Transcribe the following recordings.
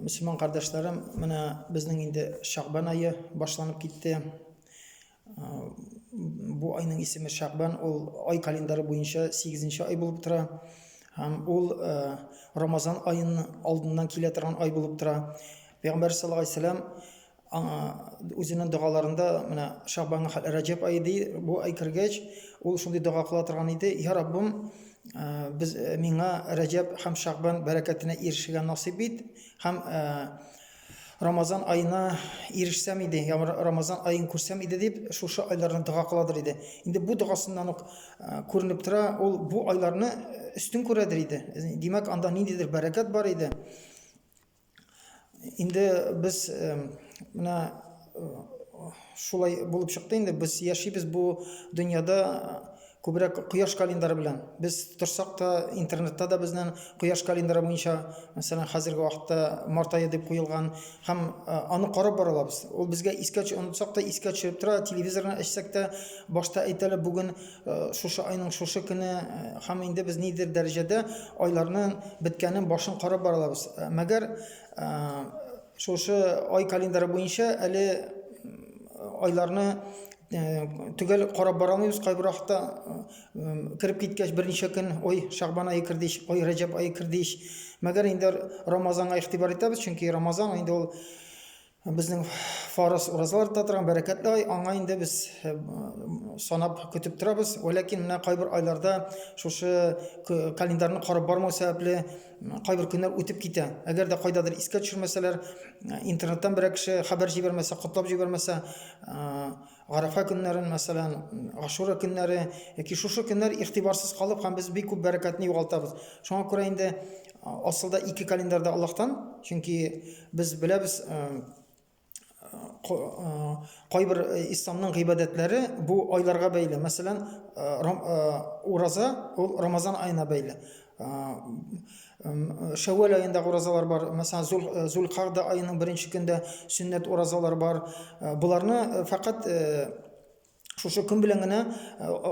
Мөселман кардәшләрем, менә безнең инде Шәгъбан ае башланып китте. Бу айның исеме Шәгъбан, ул ай календаре буенча 8 нче ай булып тора. Һәм ул Рамазан аеның алдыннан килә торган ай булып тора. Пәйгамбәр саллаллаһу алейһи вәсәлләм Аңа үзенең догаларында менә Шабанның хәл Рәҗәб ае ди, бу ай кергәч, ул шундый дога кыла торган иде, Я Раббым, без миңа Рәҗәб һәм Шабан бәрәкәтенә ирешергә насыйп ит һәм Рамазан айына ирешсәм иде, я Рамазан аен күрсәм иде дип, шушы айларны дога кыладыр иде. Инде бу догасыннан ук күренеп тора, ул бу айларны өстен күрәдер иде. Димәк, анда ниндидер бәрәкәт бар иде. инде без менә шулай булып чыкты инде без яшибез бу дөньяда күбрәк кояш календаре белән без торсак та интернетта да безнең кояш календаре буенча мәсәлән хәзерге вакытта март ае дип куелган һәм аны карап бара алабыз ул безгә искә онытсак та искә төшереп тора телевизорны ачсак та башта әйтәләр бүген Э, шушы айның шушы көне э, һәм инде без нидер дәрәҗәдә айларның беткәнен башын карап барабыз э, мәгәр шушы ай календаре буенча әле айларны төгәл карап бара алмыйбыз кайбер вакытта кереп киткәч берничә көн ой шагбан айы керде ич ой рәҗәб айы керде ич мәгәр инде рамазанга игътибар итәбез чөнки рамазан инде ул Безнең фарыз уразалар да торган бәрәкәтле ай, аңа инде без э, санап көтеп торабыз. Вәләкин менә кайбер айларда шушы календарьны карап бармау сәбәпле кайбер көннәр үтеп китә. Әгәр дә кайдадыр искә төшермәсәләр, интернеттан берәр кеше хәбәр җибәрмәсә, котлап җибәрмәсә, э, Арафа көннәрен, мәсәлән, Ашура көннәре, яки шушы көннәр игътибарсыз калып һәм без бик күп бәрәкәтне югалтабыз. Шуңа күрә инде асылда ике календарь да Аллаһтан, чөнки без беләбез, кайбер исламның гыйбадәтләре бу айларга бәйле. Мәсәлән, ураза ул Рамазан аена бәйле. Шәвәл аендагы уразалар бар. Мәсәлән, Зул Зулкагда аеның беренче көндә сөннәт уразалар бар. Буларны фәкать шушы көн белән генә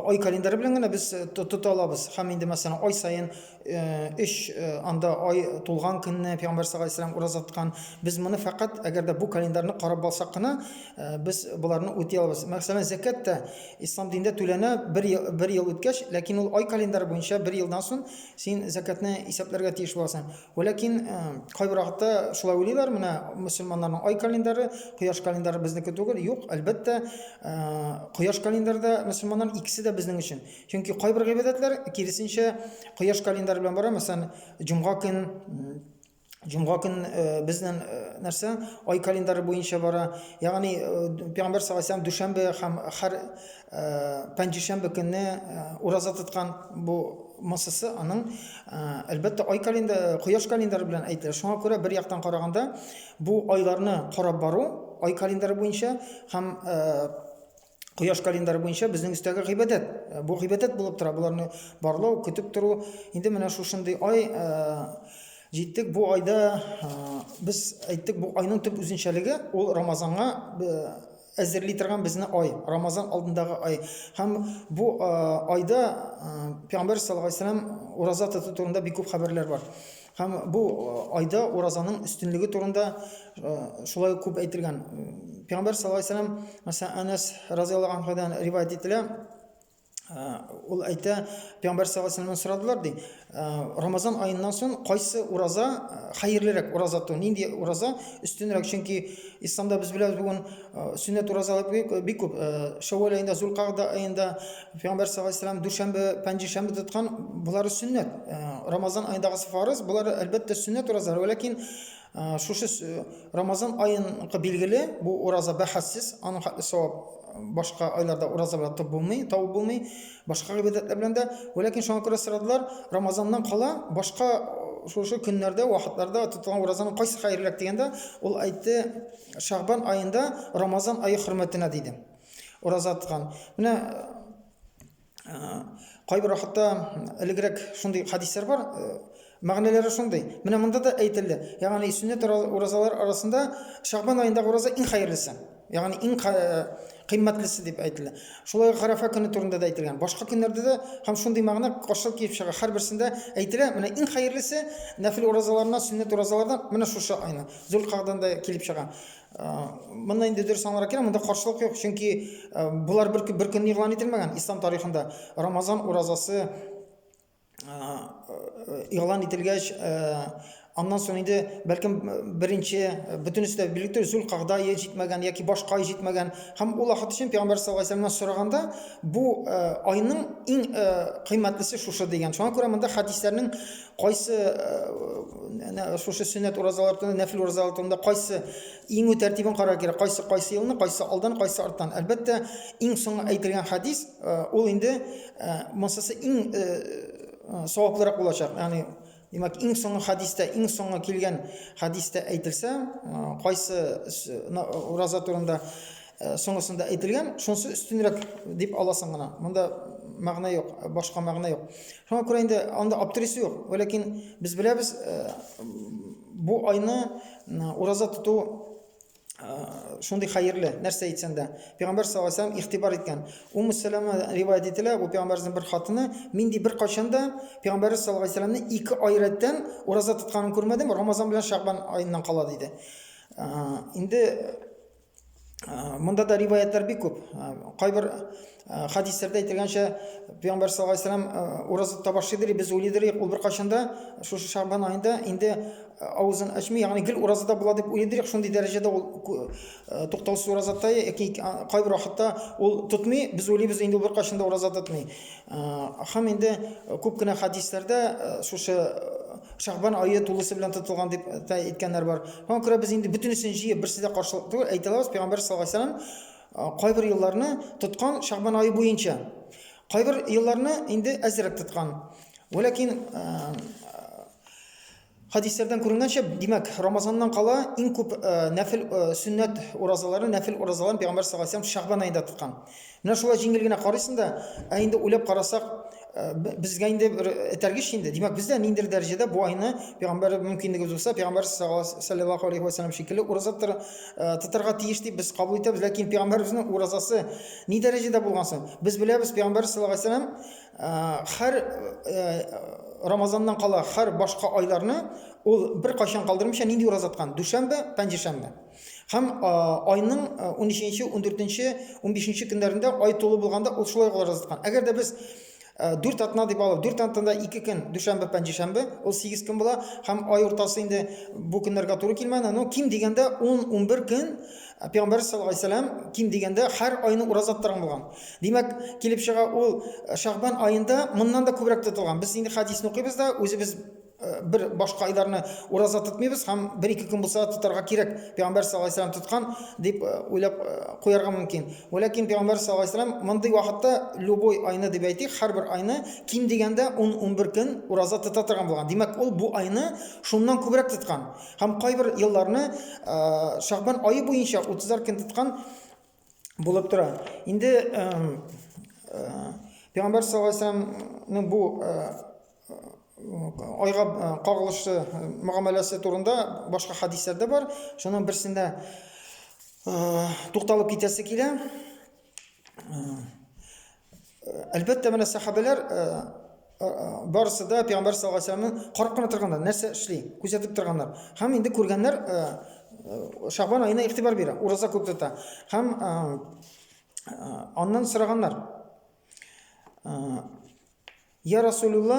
ай календаре белән генә без тота алабыз. Һәм инде мәсәлән, ай саен 3 анда ай тулган көнне Пәйгамбәр саллаллаһу алейһи ураз аткан. Без моны фәкать әгәр дә бу календарьны карап балсак кына, без буларны үти алабыз. Мәсәлән, закәт тә Ислам динендә түләнә бер ел, бер ел үткәч, ләкин ул ай календарь буенча бер елдан соң син зәкәтне исәпләргә тиеш буласың. Вә ләкин э, кайбер вакытта шулай уйлыйлар, менә мөселманнарның ай календаре, кояш календаре безнеке түгел. Юк, әлбәттә, э, кояш календаре да мөселманнар икесе дә безнең өчен. Чөнки кайбер гыйбадәтләр киресенчә кояш календаре белән бара, мәсәлән, җомга көн Җомга көн э, безнең э, нәрсә ай календаре буенча бара. Ягъни э, Пәйгамбәр саллаллаху алейһи дүшәмбе һәм һәр пәнҗешәмбе көнне ураза тоткан бу массасы аның әлбәттә ай календаре, кояш календаре белән әйтелә. Шуңа күрә бер яктан караганда бу айларны карап бару ай календаре буенча һәм кояш календаре буенча безнең өстәге гыйбадәт. Э, бу гыйбадәт булып тора. Боларны барлау, көтеп тору. Инде менә шушындый ай э, җиттек. Бу айда э, без әйттек, бу айның төп үзенчәлеге ул Рамазанга әзерли торган безне ай, Рамазан алдындагы ай. Һәм бу айда Пәйгамбәр саллаллаһу алейһи ураза тоту турында бик күп хәбәрләр бар. Һәм бу айда уразаның өстенлеге турында шулай күп әйтелгән. Пәйгамбәр саллаллаһу алейһи вәсәлләм, мәсәлән, Анас разыяллаһу анһудан риваять ителә. Ул әйтә, Пәйгамбәр саллаллаһу алейһи вәсәлләмнән сорадылар, ди, Рамазан аеннан соң кайсы ураза хәерлерәк ураза ту, нинди ураза өстенрәк? Чөнки исламда без беләбез бүген сүннәт уразалар бик күп. Шәвәл аенда, Зулкагда аенда, Пәйгамбәр саллаллаху алейһи вәсәлләм дүшәмбе, пәнҗешәмбе тоткан, болары сөннәт. Э, Рамазан айындагы фарыз, болары әлбәттә сөннәт уразалар, ләкин э, шушы э, Рамазан айыныкы билгеле, бу ураза бәхәссез, аның хәтле савап башка айларда уразалар тып булмый, табып булмый, башка гыйбадәтләр белән дә. Ләкин шуңа күрә сорадылар, Рамазаннан кала башка шушы көннәрдә, вакытларда тотылган уразаның кайсы хәерлерәк дигәндә, ул әйтте, Шагбан аенда Рамазан ае хөрмәтенә диде. Ураза тоткан. Менә кайбер вакытта элегрәк шундый хадислар бар, мәгънәләре шундый. Менә монда да әйтелде. Ягъни сүннәт уразалар арасында Шагбан аенда ураза иң хәерлесе. Ягъни иң кыйммәтлесе дип әйтелә. Шулай ук Гарафа көне турында да әйтелгән. Башка көннәрдә дә һәм шундый мәгънә каршылык килеп чыга. Һәрберсендә әйтелә, менә иң хәерлесе нәфил уразаларына, сүннәт уразалардан менә шушы айны. Зулкагъданда килеп чыга. Монда инде дөрес аңларга кирәк, монда каршылык юк, чөнки болар бер бер көнне игълан ителмәгән. Ислам тарихында Рамазан уразасы игълан ителгәч, аннан соң инде бәлкем беренче бөтенесе дә билгеле түгел, Зулкагда ел җитмәгән яки башка ай җитмәгән. Һәм ул вакыт өчен Пәйгамбәр саллаллаһу алейһи вәсәлламнан сораганда, бу айның иң кыйммәтлесе шушы дигән. Шуңа күрә монда хәдисләрнең Кайсы әнә шушы сөннәт уразалар турында, нәфил уразалар турында кайсы иңү тәртибен карар кирәк. Кайсы кайсы елны, кайсы алдан, кайсы арттан. Әлбәттә, иң соңгы әйтелгән хадис ул инде монсысы иң саваплырак булачак. Ягъни Димәк, иң соңгы хадистә, иң соңгы килгән хадистә әйтелсә, кайсы ураза турында соңгысында әйтелгән, шунысы өстенрәк дип аласың гына. Монда мәгънә юк, башка мәгънә юк. Шуңа күрә инде анда аптырис юк. Ләкин без беләбез, э, бу айны ураза тоту э, шундый хәерле, нәрсә әйтсәң дә. Пәйгамбәр саллаллаһу алейһи игътибар иткән. Умму Сәләмә риваять ителә, бу пәйгамбәрнең бер хатыны, мин ди бер качан да пәйгамбәр саллаллаһу алейһи вәсәлләмне ике ай рәттән ураза тотканын күрмәдем, Рамазан белән Шагбан аеннан кала диде. Э, инде Монда да риваятлар бик күп. Кайбер хадисләрдә әйтелгәнчә, Пәйгамбәр саллаллаһу алейһи вәсәлләм ураза табашыдыр, без уйлыйдыр, ул бер качанда шушы Шагбан аенда инде авызын ачмый, ягъни гел уразада була дип уйлыйдыр, шундый дәрәҗәдә ул туктаусыз уразада, яки кайбер вакытта ул тотмый, без уйлыйбыз инде ул бер качанда ураза тотмый. Һәм инде күп кенә хәдисләрдә шушы Шәгъбан ае тулысы белән тотылган дип тә әйткәннәр бар. Шуңа күрә без инде бөтенесен җыеп берсе дә каршылык түгел, әйтә алабыз, пәйгамбәр саллаллаһу алейһи вәсәлләм кайбер елларны тоткан Шәгъбан ае буенча. Кайбер елларны инде әзрәк тоткан. Вәләкин Хәдисләрдән күренгәнчә, димәк, Рамазаннан кала иң күп э, нәфил э, сөннәт уразаларын, нәфил уразаларын пәйгамбәр саллаллаһу алейһи Шәгъбан аенда тоткан. Менә шулай җиңел генә карыйсың да, ә инде уйлап карасак, э, безгә инде бер этәргеч инде. Димәк, без дә ниндидер дәрәҗәдә бу айны пәйгамбәр мөмкинлегебез булса, пәйгамбәр саллаллаһу алейһи ва саллям шикелле ураза тотарга тиеш дип без кабул итәбез. Ләкин пәйгамбәребезнең уразасы ни дәрәҗәдә булган соң? Без беләбез, пәйгамбәр саллаллаһу алейһи Хәр Рамазаннан кала хәр башка айларны ул бер кайчан калдырмыйча нинди ураза тоткан? Дүшәмбе, пәнҗешәмбе. Һәм айның 13-нче, 14-нче, 15-нче көннәрендә ай тулы булганда ул шулай ураза тоткан. Әгәр дә без 4 атна дип алып, 4 атнада 2 көн, дүшәмбе, пәнҗешәмбе, ул 8 көн була, һәм ай уртасы инде бу көннәргә туры килмәне, но ким дигәндә 10-11 көн Ә пәйгамбәрбез саллаллаһу алейһи вәсәлләм ким дигәндә һәр айны ураза тотарган булган. Димәк, килеп чыга ул э, Шагбан аенда моннан да күбрәк тотылган. Без инде хәдисне укыйбыз да, үзебез э, бер башка айларны ураза тотмыйбыз һәм бер-ике көн булса да тотарга кирәк. Пәйгамбәр саллаллаһу алейһи вәсәлләм тоткан дип э, уйлап куярга мөмкин. Вәләкин пәйгамбәр саллаллаһу алейһи вәсәлләм мондый вакытта любой айны дип әйтик, һәрбер айны ким дигәндә 10-11 көн ураза тота торган булган. Димәк, ул бу айны шуннан күбрәк тоткан. Һәм кайбер елларны Шагбан ае буенча утызлар көн тоткан булып тора. Инде Пәйгамбәр саллаллаху алейһи вәсәлләмнең бу айга кагылышлы мөгамәләсе турында башка хәдисләр дә бар. Шуның берсендә тукталып китәсе килә. Әлбәттә, менә сахабәләр э, э, барысы да пәйгамбәр саллаллаху алейһи вәсәлламны карап кына торганнар, нәрсә эшли, күзәтеп торганнар. Һәм инде күргәннәр э, Шагбан аена игътибар бирә, ураза күп тота. Һәм аннан сораганнар. Я Расулулла,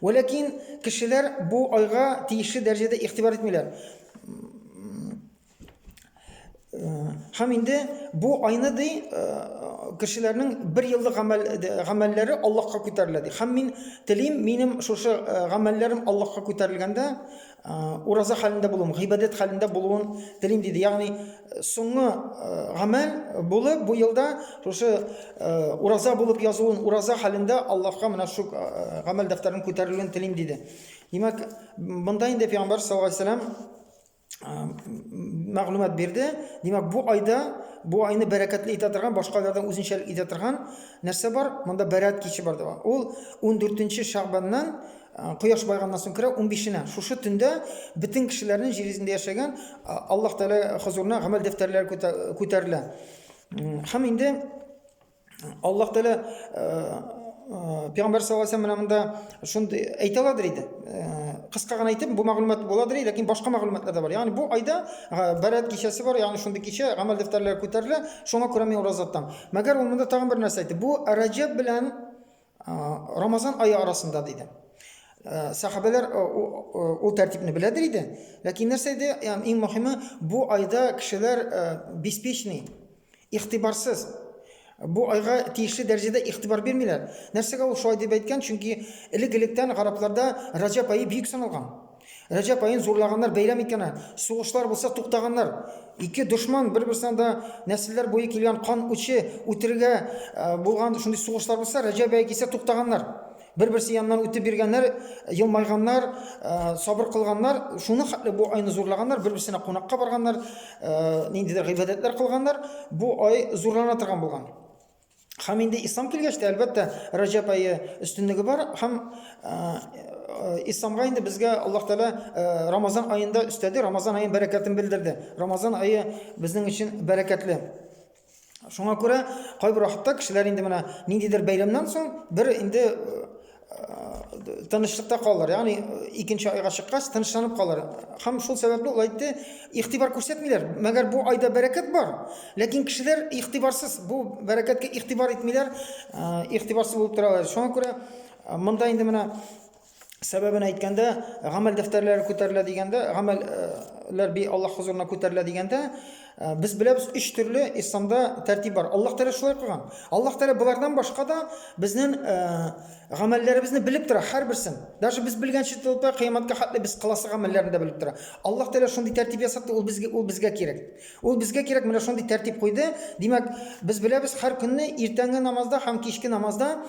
Вә ләкин кешеләр бу айга тиешле дәрәҗәдә игътибар итмиләр. Һәм инде бу айны ди э, кешеләрнең бер еллык гамәл гамәлләре Аллаһка күтәрелә ди. Һәм мин телим, минем шушы э, гамәлләрем Аллаһка күтәрелгәндә, Ураза хәлендә булуым, гыйбадәт хәлендә булуын телим диде. Ягъни соңгы гамәл булып бу елда шушы ураза булып язуын, ураза хәлендә Аллаһка менә шу гамәл дәфтәрен күтәрелүен телим диде. Димәк, монда инде пәйгамбәр саллаллаһу алейһи вәсәлам мәгълүмат бирде. Димәк, бу айда бу айны бәрәкәтле итә торган, башка айлардан үзенчәлек итә торган нәрсә бар? Монда бәрәкәт киче бар дип. Ул 14 нче Шәгъбаннан Кояш байганнан соң керә, унбишенә. Шушы төндә бөтен кешеләрнең җир йөзендә яшәгән Аллаһ Тәгалә хозурына гамәл дәфтәрләре күтәрелә. Һәм инде Аллаһ Тәгалә Пәйгамбәр саллаллаһу алейһи менә монда шундый әйтә аладыр иде. Кыска гына әйтеп, бу мәгълүмат буладыр, ләкин башка мәгълүматлар да бар. Ягъни бу айда Бәрәт кичәсе бар, ягъни шундый кичә гамәл дәфтәрләре күтәрелә, шуңа күрә мин ураза тотам. Мәгәр ул монда тагын бер нәрсә әйтте. Бу Раҗаб белән Рамазан айы арасында диде. Сахабәләр ул тәртипне беләдер иде. Ләкин нәрсә иде? Ям иң мөһиме, бу айда кешеләр беспечный, ихтибарсыз. Бу айга тиешле дәрәҗәдә ихтибар бирмиләр. Нәрсәгә ул шулай дип әйткән? Чөнки элек-электән гарапларда Раҗаб ае бик саналган. Рәҗәп аен зурлаганнар, бәйрәм иткәннәр. Сугышлар булса туктаганнар. Ике дошман бер-берсенә да нәселләр буе килгән кан учы үтерергә булган шундый сугышлар булса, Рәҗәп ае килсә туктаганнар. Бер-берсе яннан үтеп биргәннәр, елмайганнар, сабыр кылганнар. Шуны хәтле бу айны зурлаганнар, бер-берсенә кунакка барганнар, ниндидер гыйбадәтләр кылганнар. Бу ай зурлана торган булган. Һәм инде ислам килгәч тә, әлбәттә, Раҗаб ае өстенлеге бар һәм э, э, исламга инде безгә Аллаһ Тәала э, Рамазан аенда өстәде, Рамазан аен бәрәкәтен белдерде. Рамазан ае безнең өчен бәрәкәтле. Шуңа күрә кайбер вакытта кешеләр инде менә ниндидер бәйрәмнән соң бер инде тынычлыкта калыр ягъни икенче айга чыккач тынычланып калыр һәм шул сәбәпле ул әйтте игътибар күрсәтмиләр мәгәр бу айда бәрәкәт бар ләкин кешеләр игътибарсыз бу бәрәкәткә игътибар итмиләр игътибарсыз булып торалар шуңа күрә монда инде менә сәбәбен әйткәндә гамәл дәфтәрләре күтәрелә дигәндә гамәлләр би аллаһ хозурына күтәрелә дигәндә Э, без беләбез өч төрле исламда тәртип бар аллаһ тәғәлә шулай кылган аллаһ тәғәлә болардан башка да безнең э, гамәлләребезне белеп тора һәрберсен даже без белгәнче тотта кыямәткә хәтле без кыласы гамәлләрне дә белеп тора аллаһ тәғәлә шундый тәртип ясатты ул безгә ул безгә кирәк ул безгә кирәк менә шундый тәртип куйды димәк без беләбез һәр көнне иртәнге намазда һәм кичке намазда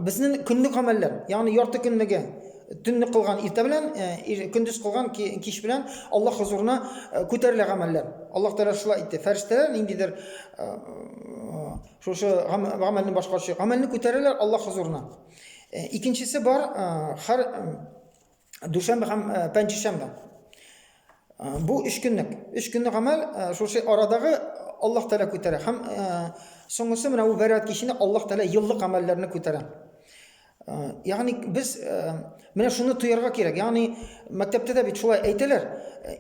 Безнең көнлек гамәлләр, ягъни ярты көнлеге, төнне кылган иртә белән, көндез кылган кич белән Аллаһ хозурына күтәрелә гамәлләр. Аллаһ Тәгалә шулай әйтте. Фәрештәләр ниндидер шушы гамәлне башкаручы гамәлне күтәрәләр Аллаһ хозурына. Икенчесе бар, хәр дүшәмбе һәм э, пәнҗешәмбе. Э, бу өч көнлек. Өч көнлек гамәл э, шушы арадагы Аллаһ Тәгалә күтәрә һәм соңгысы менә бу бәрәт киченә Аллаһ Тәгалә еллык гамәлләрне күтәрә. Ягъни без менә шуны тоярга кирәк. Ягъни мәктәптә дә бит шулай әйтәләр.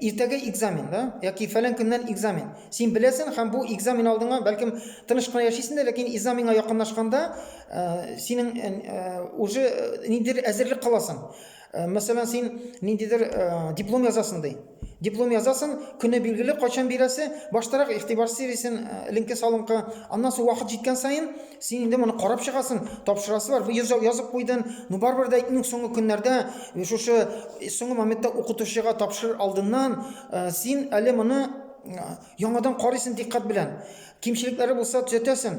Иртәгә экзамен, да? Яки фәлән көннән экзамен. Син беләсең һәм бу экзамен алдыңа, бәлкем тыныч кына яшисең дә, ләкин экзаменга якынлашканда Э, синең э, э, уже ниндидер әзерлек кыласың мәсәлән син ниндидер диплом язасың ди диплом язасың көне билгеле кайчан бирәсе баштарак игътибар сервисын линке салынкы аннан соң вакыт җиткән саен син инде моны карап чыгасың тапшырасы бар язып куйдың ну барыбер дә иң соңгы көннәрдә шушы соңгы моментта укытучыга тапшырыр алдыннан син әле моны Яңадан карыйсың диккать белән. Кимчелекләре булса төзәтәсең,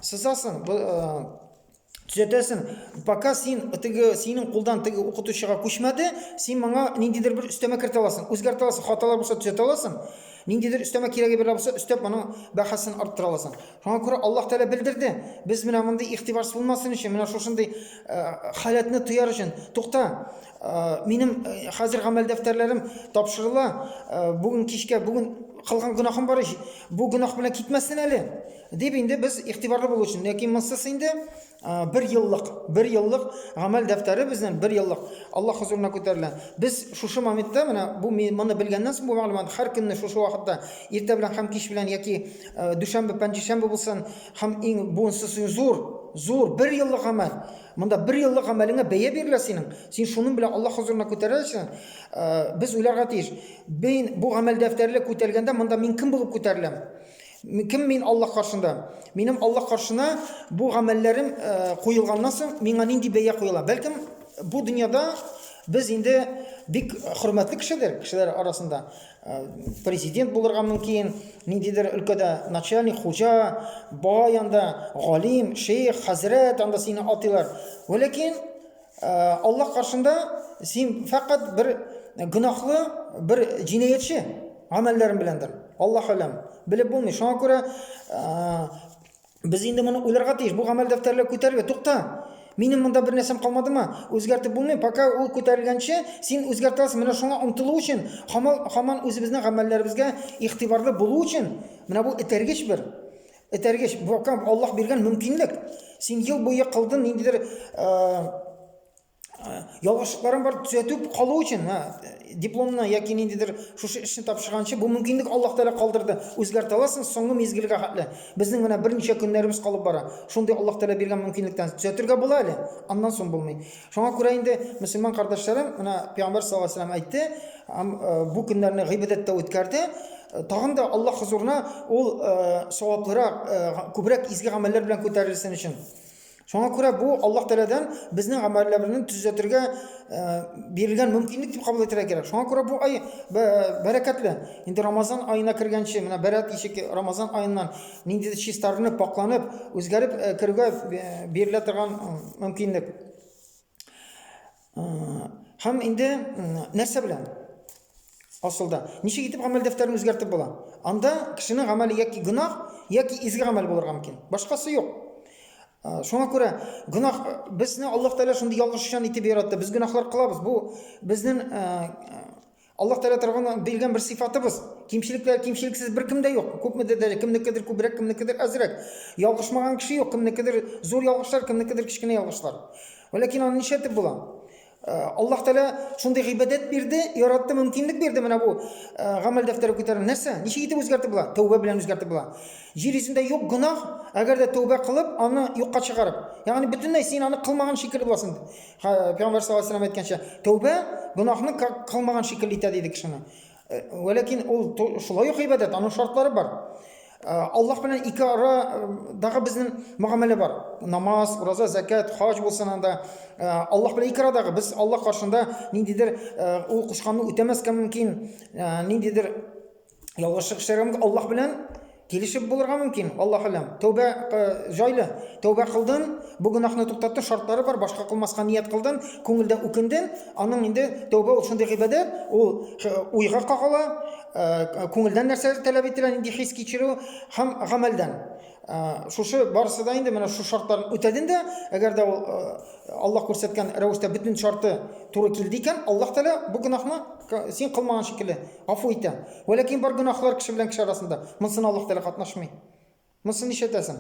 сызасың, төзәтәсең. Пока син теге синең кулдан теге укытучыга күчмәде, син моңа ниндидер бер өстәмә кертә аласың, үзгәртә аласың, хаталар булса төзәтә аласың. Ниндидер өстәмә кирәге бер булса, өстәп моның бәхәсен арттыра аласың. Шуңа күрә Аллаһ Тәгалә белдерде. Без менә мондый ихтибарсыз булмасын өчен, менә шушындый халәтне тояр өчен, тукта, Минем хәзер гамәл дәфтәрләрем тапшырыла. Бүген кичкә бүген кылган гөнаһым бар ич. Бу гөнаһ белән китмәсен әле. Дип инде без игътибарлы булу өчен. Ләкин монсыз инде бер еллык, бер еллык гамәл дәфтәре безнең бер еллык Аллаһ хузурына күтәрелә. Без шушы моментта менә бу моны белгәннән соң бу мәгълүмат һәр көнне шушы вакытта иртә белән һәм кич белән яки дүшәмбе, пәнҗешәмбе булсын һәм иң бунсыз зур, зур бер еллык гамәл. Монда бер еллык гамәлеңә бәя бирелә синең, син шуның белән Аллаһ хозурына күтәреләсең. Э, без уйларга тиеш, мин бу гамәл дәфтәрле күтәргәндә монда мин кем булып күтәреләм? Кем мин Аллаһ каршында? Минем Аллаһ каршына бу гамәлләрем э, куелганнан соң миңа нинди бәя куела? Бәлкем бу дөньяда без инде бик хөрмәтле кешедер, кешеләр арасында. Президент булырга мөмкин, ниндидер өлкәдә начальник, хуҗа, баба янда галим, шейх, хәзрәт анда сине атыйлар. Вәләкин Аллаһ каршында син фәкать бер гөнаһлы, бер җинаятьче гамәлләрең беләндер. Аллаһ алам, белеп булмый. Шуңа күрә Без инде моны уйларга тиеш. Бу гамәл дәфтәрләр күтәрелгән. Тукта. Минем монда бер нәрсәм калмадымы? Үзгәртеп булмый. Пока ул күтәрелгәнче, син үзгәртә аласың. Менә шуңа омтылу өчен, хамал, хаман үзебезнең гамәлләребезгә игътибарлы булу өчен, менә бу этәргеч бер. Этәргеч. Бу Аллаһ биргән мөмкинлек. Син ел буе кылдың ниндидер э, ялгышлыкларын бар төзәтеп калу өчен дипломны яки ниндидер шушы эшне тапшырганчы бу мөмкинлек аллаһ тәғәлә калдырды үзгәртә аласың соңгы мизгелгә хәтле безнең менә берничә көннәребез калып бара шундый аллаһ тәғәлә биргән мөмкинлектән төзәтергә була әле аннан соң булмый шуңа күрә инде мөселман кардәшләрем менә пәйгамбәр саллаллаху алейһи вәсәләм әйтте э, бу көннәрне гыйбадәттә үткәрде тагын да аллаһ хозурына ул э, саваплырак э, күбрәк изге гамәлләр белән күтәрелсен өчен Шуңа күрә бу Аллаһ Тәгаләдән безнең гамәлләрне төзәтергә э, бирелгән мөмкинлек дип кабул итәргә кирәк. Шуңа күрә бу ай бәрәкәтле. Инде Рамазан аена кергәнче, менә бәрәт ишек Рамазан аеннан нинди чистарынып, пакланып, үзгәреп э, керүгә э, бирелә торган мөмкинлек. Һәм инде нәрсә белән? Асылда, ничек итеп гамәл дәфтәрен үзгәртеп була? Анда кешенең гамәле яки гөнаһ, яки изге гамәл булырга мөмкин. Башкасы юк. Шуңа күрә гөнаһ безне Аллаһ Тәгалә шундый ялгышчан итеп яратты. Без гөнаһлар кылабыз. Бу безнең Аллаһ Тәгалә тарафыннан биргән бер сыйфатыбыз. Кимчелекләр кимчелексез беркем дә юк. Күпмедер дәрә, кемнекедер күбрәк, кемнекедер әзрәк. Ялгышмаган кеше юк, кемнекедер зур ялгышлар, кемнекедер кечкенә ялгышлар. Вәләкин аны нишләтеп була? Э, Аллаһ Тәгалә шундый гыйбадәт бирде, яратты, мөмкинлек бирде менә бу э, гамәл дәфтәре күтәрү. Нәрсә? Ничек итеп үзгәртеп була? Тәүбә белән үзгәртеп була. Җир йөзендә юк гөнаһ, әгәр дә тәүбә кылып, аны юкка чыгарып. Ягъни бөтенләй син аны кылмаган шикелле буласың. Пәйгамбәр саллаллаху алейһи әйткәнчә, тәүбә гөнаһны кылмаган шикелле итә диде кешене. Э, Вәләкин ул шулай ук гыйбадәт, аның шартлары бар. Э, Аллаһ белән ике арадагы э, безнең мөгамәлә бар. Намаз, ураза, закат, хаҗ булсын анда. Аллаһ белән ике арадагы без Аллаһ каршында ниндидер ул кушканны үтәмәскә мөмкин, ниндидер Ялгыш чыгыш чыгарган Аллаһ белән килешеп булырга мөмкин. Аллаһ алам. Тәүбә э, җайлы. Тәүбә кылдың, бу гөнаһны туктатты, шартлары бар, башка кылмаска ният кылдың, күңелдә үкендең, аның инде тәүбә ул шундый гыйбадәт, ул уйга кагыла, э, күңелдән нәрсә таләп ителә, нинди хис кичерү һәм гамәлдән. Ә, шушы барысы да инде менә шушы шартларын үтәден дә, әгәр дә ул ә, Аллаһ күрсәткән рәвештә бөтен шарты туры килде икән, Аллаһ Тәгалә бу гөнаһны син кылмаган шикелле гафу итә. Вә ләкин бар гөнаһлар кеше белән кеше арасында. Монсын Аллаһ Тәгалә катнашмый. Монсын ишетәсең.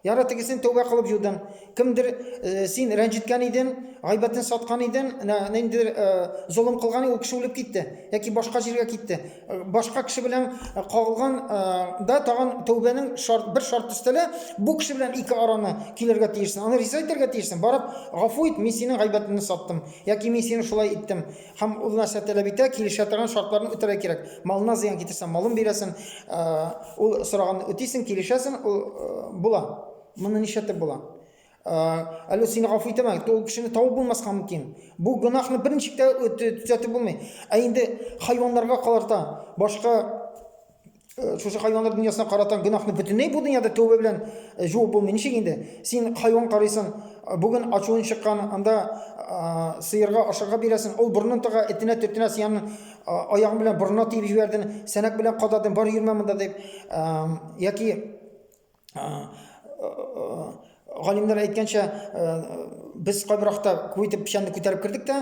Яра тегесен тәүбә кылып юдың. Кемдер э, син рәнҗеткән идең, гайбәтен саткан идең, нәндер э, золым кылган, ул кеше үлеп китте яки башка җиргә китте. башка кеше белән э, кагылган э, да тагын тәүбәнең шарт, бер шарт өстәлә бу кеше белән ике араны килергә тиешсең аны риза итәргә тиешсең барып гафу ит мин синең гайбәтеңне саттым яки мин сине шулай иттем һәм ул нәрсә таләп итә килешә торган шартларны үтәргә кирәк малына зыян китерсәң малын бирәсең э, ул сораган үтисең килешәсең ул була моны нишләтеп була әллә сине гафу итәме ул кешене табып булмаска мөмкин бу гөнаһны бер ничек тә төзәтеп булмый ә инде хайваннарга карата башка шушы хайваннар дөньясына карата гөнаһны бөтенләй бу дөньяда тәүбә белән жуып булмый ничек инде син хайван карыйсың бүген ачуың чыккан анда сыерга ашарга бирәсең ул борынын тыга этенә төртенә сиянең аягың белән борынына тиеп җибәрдең сәнәк белән кададың бар йөрмә монда дип яки галимнәр әйткәнчә, без кайбер вакытта күп итеп печәнне күтәреп кердек тә,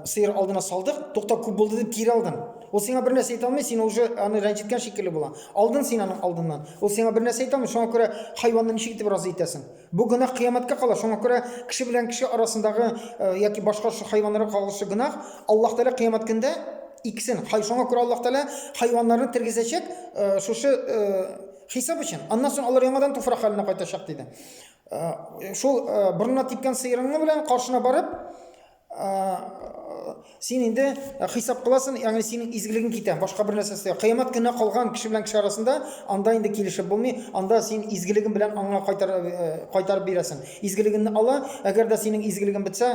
сыер алдына салдык, тукта күп булды дип кире алдың. Ул сиңа бер нәрсә әйтә алмый, син уже аны рәнҗеткән шикелле була. Алдың син аның алдыннан. Ул сиңа бер нәрсә әйтә алмый, шуңа күрә хайванны ничек итеп разый итәсең? Бу гөнаһ кыямәткә кала, шуңа күрә кеше белән кеше арасындагы яки башка шушы хайваннарга кагылышлы гөнаһ Аллаһ Тәгалә кыямәт көндә иксен. Хай шуңа күрә Аллаһ Тәгалә хайваннарны тергезәчәк шушы Хисап өчен. Аннан соң алар яңадан туфрак хәленә кайтачак диде. Э, шул э, борынына типкән сыерыңны белән каршына барып, э, син инде хисап кыласың, ягъни синең изгелегең китә, башка бер нәрсә эстә. Кыямат көне калган кеше белән кеше арасында анда инде килешеп булмый, анда син изгелегең белән аңа кайтар кайтарып бирәсең. Изгелегеңне ала, әгәр дә синең изгелегең бетсә,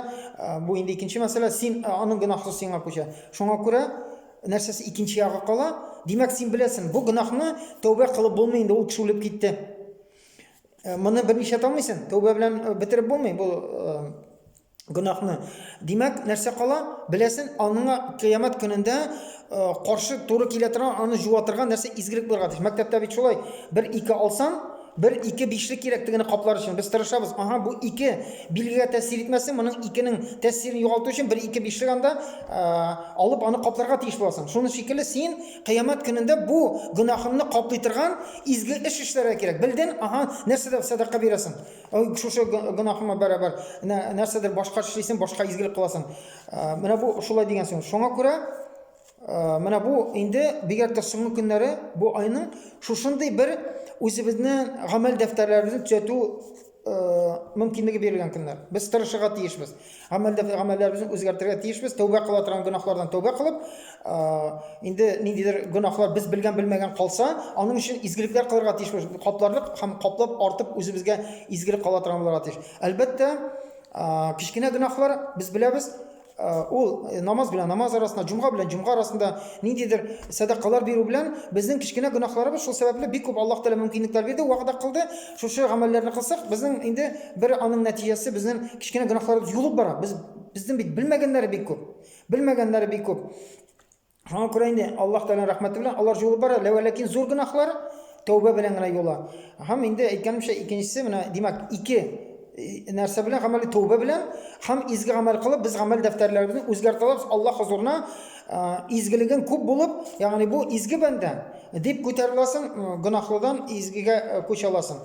бу инде икенче мәсьәлә, син аның гөнаһы сиңа күчә. Шуңа күрә Нәрсәсе икенче ягы кала? Димәк, син беләсең, бу гөнаһны тәүбә кылып булмый инде, ул кеше үлеп китте. Э, моны берничә таңмыйсың, тәүбә белән э, бетереп булмый бу э, гөнаһны. Димәк, нәрсә кала? Беләсең, аңа кыямәт көнендә каршы туры килә торган, аны җуатырга нәрсә изгелек булырга тиеш. Мәктәптә бит шулай, бер ике алсаң, Бер, ике, бишле кирәк тегене каплар өчен. Без тырышабыз. Аһа, бу ике билгегә тәэсир итмәсен, моның икенең тәэсирен югалту өчен бер, ике, бишлек анда алып, аны капларга тиеш буласың. Шуны шикелле син Кыямәт көнендә бу гөнаһыңны каплый торган изге эш эшләргә кирәк. Белдең, аһа, нәрсәдә сәдака бирәсең? Ой, шушы гөнаһыма бәрабәр нәрсәдер башка эшлисең, башка изгелек кыласың. Менә бу шулай дигән сүз. Шуңа күрә. Менә бу инде бигрәк тә соңгы көннәре бу айның шушындый бер үзебезнең гамәл дәфтәрләребезне төзәтү мөмкинлеге бирелгән көннәр. Без тырышырга тиешбез. Гамәл дәфтәр гамәлләребезне үзгәртергә тиешбез. Тәүбә кыла торган гөнаһлардан тәүбә кылып, инде ниндидер гөнаһлар без белгән белмәгән калса, аның өчен изгелекләр кылырга тиешбез. Капларлык һәм каплап артып үзебезгә изгелек кала торган булырга тиеш. Әлбәттә, кечкенә гөнаһлар без беләбез, ул намаз белән намаз арасында, җомга белән җомга арасында ниндидер сәдакалар бирү белән безнең кечкенә гөнаһларыбыз шул сәбәпле бик күп Аллаһ Тәгалә мөмкинлекләр бирде, вәгъдә кылды. Шушы гамәлләрне кылсак, безнең инде бер аның нәтиҗәсе безнең кечкенә гөнаһларыбыз юылып бара. Без безнең бит белмәгәннәре бик күп. Белмәгәннәре бик күп. Шуңа күрә инде Аллаһ Тәгалә рәхмәте белән алар юлы бара, ләкин зур гөнаһлар тәүбә белән генә юла. Һәм инде әйткәнемчә, икенчесе менә, димәк, ике э, нәрсә белән гамәли тәүбә белән һәм изге гамәл кылып без гамәл дәфтәрләребезне үзгәртә алабыз. Аллаһ хозурына э, изгелеген күп булып, ягъни бу изге бәндә дип күтәреләсең, э, гөнаһлыдан изгегә күчә аласың.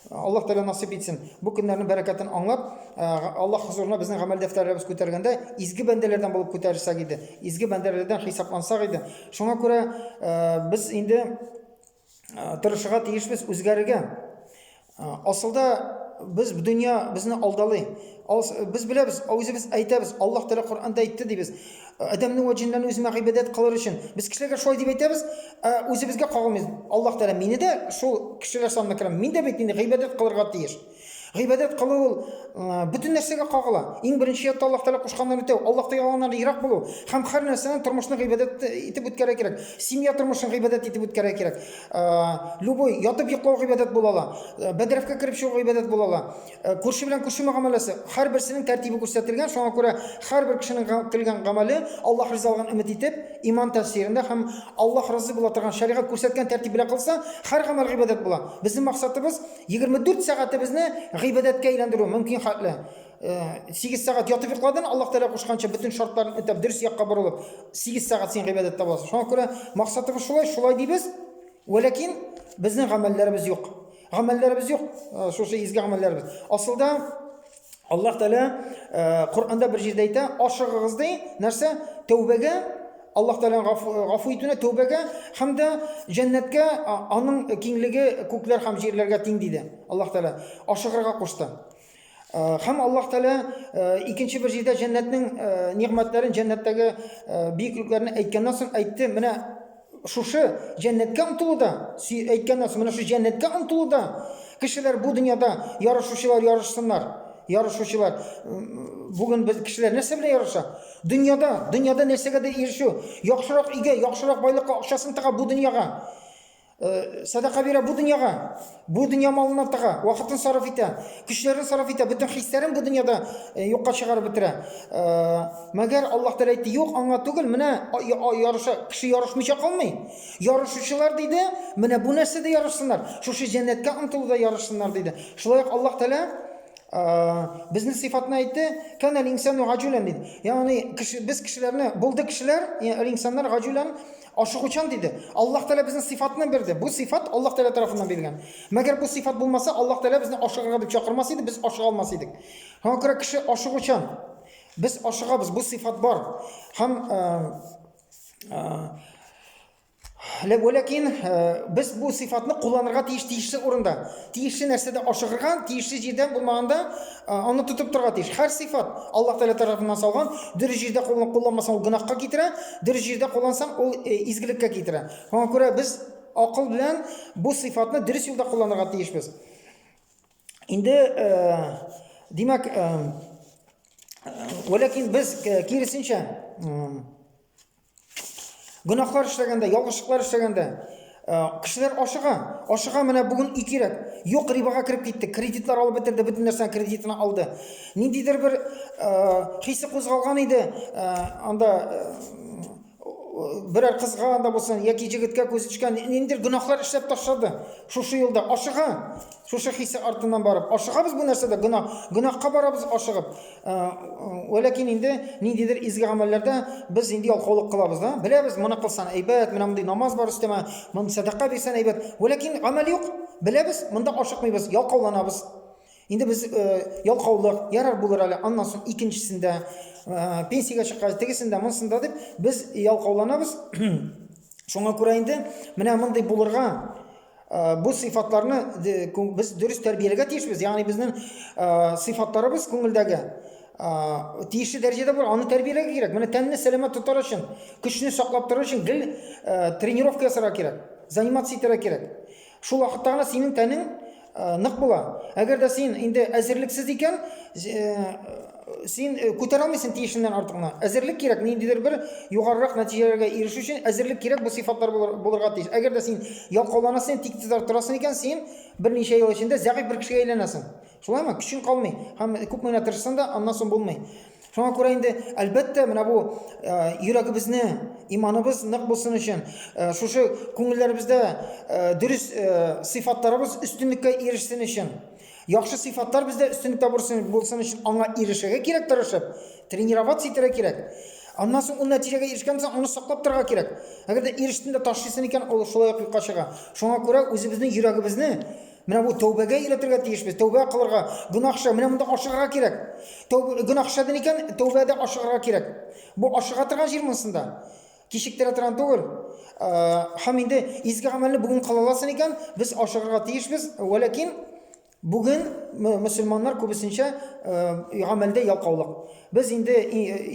Аллаһ Тәгалә насыйп итсен. Бу көннәрнең бәрәкәтен аңлап, Аллаһ хозурына безнең гамәл дәфтәрләребез күтәргәндә изге бәндәләрдән булып күтәрсәк иде, изге бәндәләрдән хисаплансак иде. Шуңа күрә без инде тырышырга тиешбез үзгәрергә. Асылда без дөнья безне алдалый. Без беләбез, үзебез әйтәбез, Аллаһ Тәгалә Коръәндә әйтте дибез. Адәмнең ваҗиннан үземә гыйбадәт кылыр өчен. Без кешеләргә шулай дип әйтәбез, ә үзебезгә кагылмыйбыз. Аллаһ Тәгалә мине дә шул кешеләр санына керәм. Мин дә бит инде гыйбадәт кылырга тиеш. Гыйбадәт кылу ул бөтен нәрсәгә кагыла. Иң беренче ятта Аллаһ Тәгалә кушканнарын үтәү, Аллаһ Тәгаләннән ерак булу һәм һәр нәрсәне тормышны гыйбадәт итеп үткәрә кирәк. Семья тормышын гыйбадәт итеп үткәрә кирәк. Любой ятып йоклау гыйбадәт була ала. Бәдрәфкә кереп чыгу гыйбадәт була ала. Э, күрше белән күрше мөгамәләсе һәрберсенең тәртибе күрсәтелгән шуңа күрә һәрбер кешенең кылган гамәле аллаһ ризалыгын өмет итеп иман тәфсирендә һәм аллаһ разый була торган шәригать күрсәткән тәртип белән кылса һәр гамәл гыйбадәт була безнең максатыбыз 24 сәгатебезне гыйбадәткә әйләндерү мөмкин хәтле 8 э, сәгать ятып йокладың аллаһ тәгалә кушканча бөтен шартларын үтәп дөрес якка борылып 8 сәгать син гыйбадәттә буласың шуңа күрә максатыбыз шулай шулай дибез вәләкин безнең гамәлләребез юк гамәлләребез юк, шушы изге гамәлләребез. Асылда Аллаһ Тәгалә Коръәндә бер җирдә әйтә, ашыгыгыз ди, нәрсә? Тәүбәгә, Аллаһ Тәгаләнең гафу итүенә, тәүбәгә һәм дә җәннәткә, аның киңлеге күкләр һәм җирләргә тиң диде. Аллаһ Тәгалә ашыгырга кушты. Хәм Аллаһ Тәгалә икенче бер җирдә җәннәтнең нигъмәтләрен, җәннәттәге бөеклекләрен әйткәннән соң әйтте, менә шушы җәннәткә омтылуда, әйткәннән соң менә шушы җәннәткә омтылуда кешеләр бу дөньяда ярышучылар ярышсыннар. Ярышучылар бүген без кешеләр нәрсә белән ярыша? Дөньяда, дөньяда нәрсәгә дә ирешү, яхшырак өйгә, яхшырак байлыкка, акчасын тыга бу дөньяга. Э, садака бирә бу дөньяга, бу дөнья малына тыга, вакытын сарыф итә, көчләрен сарыф итә, бөтен хисләрен бу дөньяда э, юкка чыгарып бетерә. Э, мәгәр Аллаһ Тәгалә әйтте, юк, аңа түгел, менә ярыша, кеше ярышмыйча калмый. Ярышучылар диде, менә бу нәрсәдә ярышсыннар, шушы җәннәткә омтылуда ярышсыннар диде. Шулай ук Аллаһ Тәгалә безнең сыйфатны әйтте, кән әл инсану гаҗүлән диде. Ягъни кеше, без кешеләрне, булды кешеләр, инсаннар гаҗүлән, Ашыгучан диде. Аллаһ Тәгалә безне сыйфатны бирде. Бу сыйфат Аллаһ Тәгалә тарафыннан бирелгән. Мәгәр бу сыйфат булмаса, Аллаһ Тәгалә безне ашыгырга дип чакырмас иде, без ашыга алмас идек. Шуңа күрә кеше ашыгучан. Без ашыгабыз, бу сыйфат бар. Һәм Ләкин без бу сыйфатны кулланырга тиеш тиешле урында. Тиешле нәрсәдә ашыгырга, тиешле җирдә булмаганда аны тотып торырга тиеш. Һәр сыйфат Аллаһ Тәгалә тарафыннан салган, дөрес җирдә кулланмасаң, ул гөнаһка китерә. Дөрес җирдә куллансаң, ул э, изгелеккә китерә. Шуңа күрә без акыл белән бу сыйфатны дөрес юлда кулланырга тиешбез. Инде, э, димәк, э, Вәләкин без э, киресенчә гөнаһлар эшләгәндә, ялгышлыклар эшләгәндә, Э, кешеләр ашыга ашыга менә бүген ике рәт юк рибага кереп китте кредитлар алып бетерде бөтен нәрсәне кредитына алды ниндидер бер ә, хисе кузгалган иде ә, анда ә, берәр кызга анда булсын яки җегеткә күз төшкән ниндидер гөнаһлар эшләп ташлады шушы юлда ашыга шушы хисе артыннан барып ашыгабыз бу нәрсәдә гөнаһ гөнаһка барабыз ашыгып Ә, ләкин инде ниндидер изге гамәлләрдә без инде ялкаулык кылабыз да. Беләбез, моны кылсан әйбәт, менә мондый намаз бар өстәмә, моны сәдака бирсән әйбәт. Ләкин гамәл юк. Беләбез, монда ашыкмыйбыз, ялкауланабыз. Инде без э, ялкаулык, ярар булыр әле, аннан соң икенчесендә, э, пенсиягә чыккач, тегесендә, монсында дип без ялкауланабыз. Шуңа күрә инде менә мондый булырга Э, бу сыйфатларны без дөрес тәрбияләргә тиешбез ягъни безнең э, сыйфатларыбыз күңелдәге э, тиешле дәрәҗәдә бар аны тәрбияләргә кирәк менә тәнне сәламәт тотар өчен көчне саклап тору өчен гел тренировка ясарга кирәк заниматься итәргә кирәк шул вакытта гына синең тәнең нык була әгәр дә син инде әзерлексез икән Син э, күтәрә алмыйсың тиешеннән артыгны. Әзерлек кирәк, ниндидер бер югарырак нәтиҗәләргә ирешү өчен әзерлек кирәк, бу сыйфатлар булыр, булырга тиеш. Әгәр дә син ялкауланасың, тик тезләр торасың икән, син берничә ел эчендә зәгыйфь бер кешегә әйләнәсең. Шулаймы? Көчең калмый. Һәм күпме генә тырышсаң да, аннан соң булмый. Шуңа күрә инде, әлбәттә, менә бу э, йөрәгебезне, иманыбыз нык булсын өчен, э, шушы күңелләребездә э, дөрес э, сыйфатларыбыз өстенлеккә ирешсен өчен, Яхшы сыйфатлар бездә өстенлек табырсын булсын өчен аңа ирешергә кирәк тырышып, тренироваться итәргә кирәк. Аннан соң ул нәтиҗәгә ирешкән соң аны саклап торырга кирәк. Әгәр дә ирештен дә ташлыйсын икән, ул шулай ук юкка чыга. Шуңа күрә үзебезнең йөрәгебезне менә бу тәүбәгә өйрәтергә тиешбез. Тәүбә кылырга, гөнаһча менә монда ашыгырга кирәк. Тәүбә гөнаһ эшләден икән, тәүбәдә ашыгырга кирәк. Бу ашыга торган җир монсында. Кичектерә торган түгел. Һәм инде изге гамәлне бүген кыла аласың икән, без ашыгырга тиешбез. Вәләкин бүген мөселманнар күбесенчә гамәлдә ялкаулык. Без инде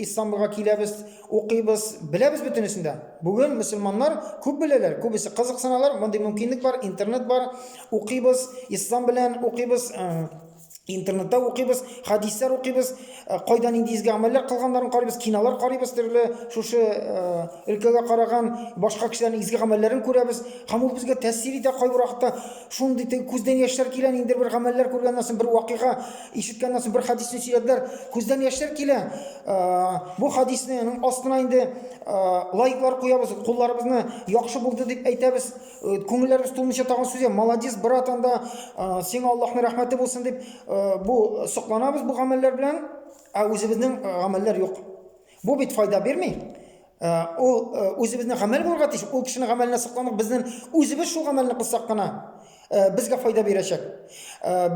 Истанбулга киләбез, укыйбыз, беләбез бөтенесен дә. Бүген мөселманнар күп беләләр, күбесе кызыксыналар, мондый мөмкинлек бар, интернет бар, укыйбыз, ислам белән укыйбыз, интернетта укыйбыз, хадислар укыйбыз, э, кайда нинди изге амәлләр кылганнарын карыйбыз, кинолар карыйбыз, төрле шушы э, өлкәгә караган башка кешеләрнең изге гамәлләрен күрәбез. Һәм ул безгә тәэсир итә кайбер вакытта. Шундый күздән яшьләр килә, инде бер гамәлләр күргәннән соң, бер вакыйга ишеткәннән соң, бер хадисне сөйләделәр, күздән яшьләр килә. Э, бу хадисның астына инде лайклар куябыз, кулларыбызны яхшы булды дип әйтәбез. Э, күңелләрегез тулынча тагын сүз молодец брат анда э, сиңа аллаһның рәхмәте булсын дип э, бу сокланабыз бу гамәлләр белән ә үзебезнең гамәлләр юк бу бит файда бирми ул үзебезнең гамәл булырга тиеш ул кешенең гамәленә сокланып безнең үзебез шул гамәлне кылсак кына безгә файда бирәчәк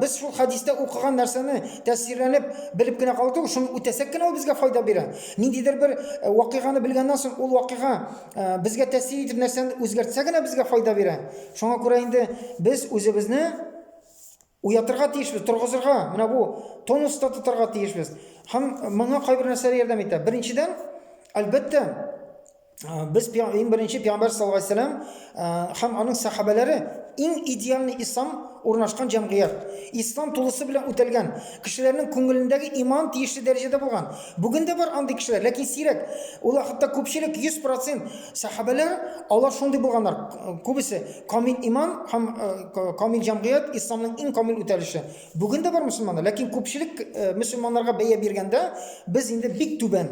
Без шул хәдистә укыган нәрсәне тәсирләнеп белеп кенә калу түгел, шуны үтәсәк кенә ул безгә файда бирә. Ниндидер бер вакыйганы белгәннән соң ул вакыйга безгә тәсир итеп нәрсәне үзгәртсә генә безгә файда бирә. Шуңа күрә инде без үзебезне уятырга тиешбез, торгызырга, менә бу тонуста тотарга тиешбез. Һәм моңа кайбер нәрсәләр ярдәм итә. Беренчедән, әлбәттә, без иң беренче пәйгамбәр саллаллаху алейһи вәсәлләм һәм аның сәхабәләре иң идеальный ислам урнашкан җәмгыять. Ислам тулысы белән үтәлгән. Кешеләрнең күңелендәге иман тиешле дәрәҗәдә булган. Бүген дә бар андый кешеләр, ләкин сирәк. Ул хәтта күпчелек 100% сәхабәләр алар шундый булганнар. Күбесе камил иман һәм камил җәмгыять исламның иң камил үтәлеше. Бүген дә бар мусламаннар, ләкин күпчелек мусламаннарга бәя биргәндә без инде бик түбән.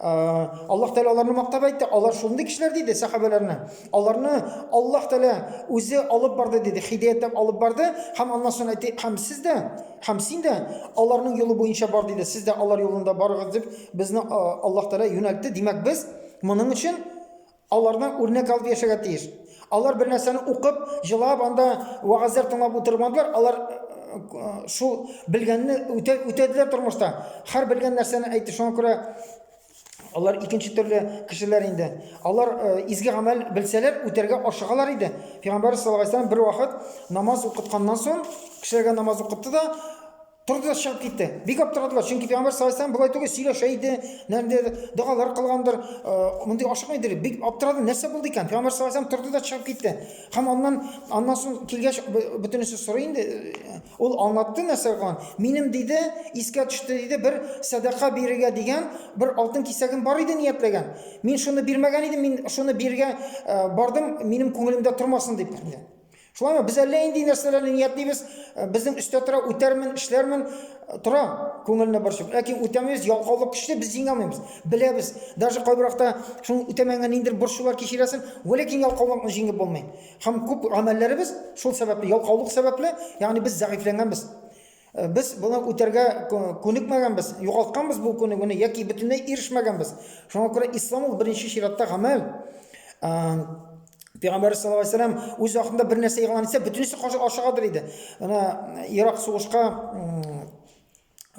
Аллаһ Тәгалә аларны мактап әйтте, алар шундый кешеләр диде сахабәләрне. Аларны Аллаһ Тәгалә үзе алып барды диде, хидаяттап алып барды һәм аннан соң әйтте, һәм сез дә, һәм син дә аларның юлы буенча бар диде. Сез дә алар юлында барыгыз дип безне Аллаһ Тәгалә юнәлтте. Димәк, без моның өчен Аларны үрнәк алып яшәргә тиеш. Алар бер нәрсәне укып, җылап, анда вәгазьләр тыңлап утырмадылар. Алар шул белгәнне үтә, үтәделәр тормышта. Һәр белгән нәрсәне әйтте. Шуңа күрә алар икенче төрле кешеләр инде. Алар изге гамәл белсәләр, үтәргә ашыгалар иде. Пәйгамбәр саллаллаһу алейһи бер вакыт намаз укытканнан соң, кешеләргә намаз укытты да, Торды да чыгып китте. Бик аптырадылар, чөнки пәйгамбәр саллаллаху алейһи болай түгел сөйләшә иде, нәрдер догалар кылгандыр, э, мондый ашыкмый иде. Бик аптырады, нәрсә булды икән? Пәйгамбәр саллаллаху алейһи торды да чыгып китте. Һәм аннан аннан соң килгәч бөтенесе сорый инде. Э, ул аңлатты нәрсә булган. Минем диде, искә төште диде, бер садака бирергә дигән бер алтын кисәгем бар иде ниятләгән. Мин шуны бирмәгән идем, мин шуны биргә э, бардым, минем күңелемдә тормасын дип. Шулаймы? Без әллә инде нәрсәләрне ниятлибез, э, безнең өстә тора, үтәрмен, эшләрмен, э, тора күңелне борчып. Ләкин үтәмибез, ялкаулык көчле, без җиңә алмыйбыз. Беләбез, даже кайбыракта шуның үтәмәгән ниндер борчулар кичерәсен, ләкин ялкаулыкны җиңеп булмый. Һәм күп гамәлләребез шул сәбәпле, ялкаулык сәбәпле, ягъни без зәгыйфьләнгәнбез. Э, без буны үтәргә күнекмәгәнбез югалтканбыз бу күнегүне яки бөтенләй ирешмәгәнбез шуңа күрә ислам ул беренче чиратта гамәл э, пәйгамбәрбез саллаллаху алейхи вәсәләм үз вакытында бер нәрсә игълан итсә бөтенесе ашыгадыр иде ана ирак сугышка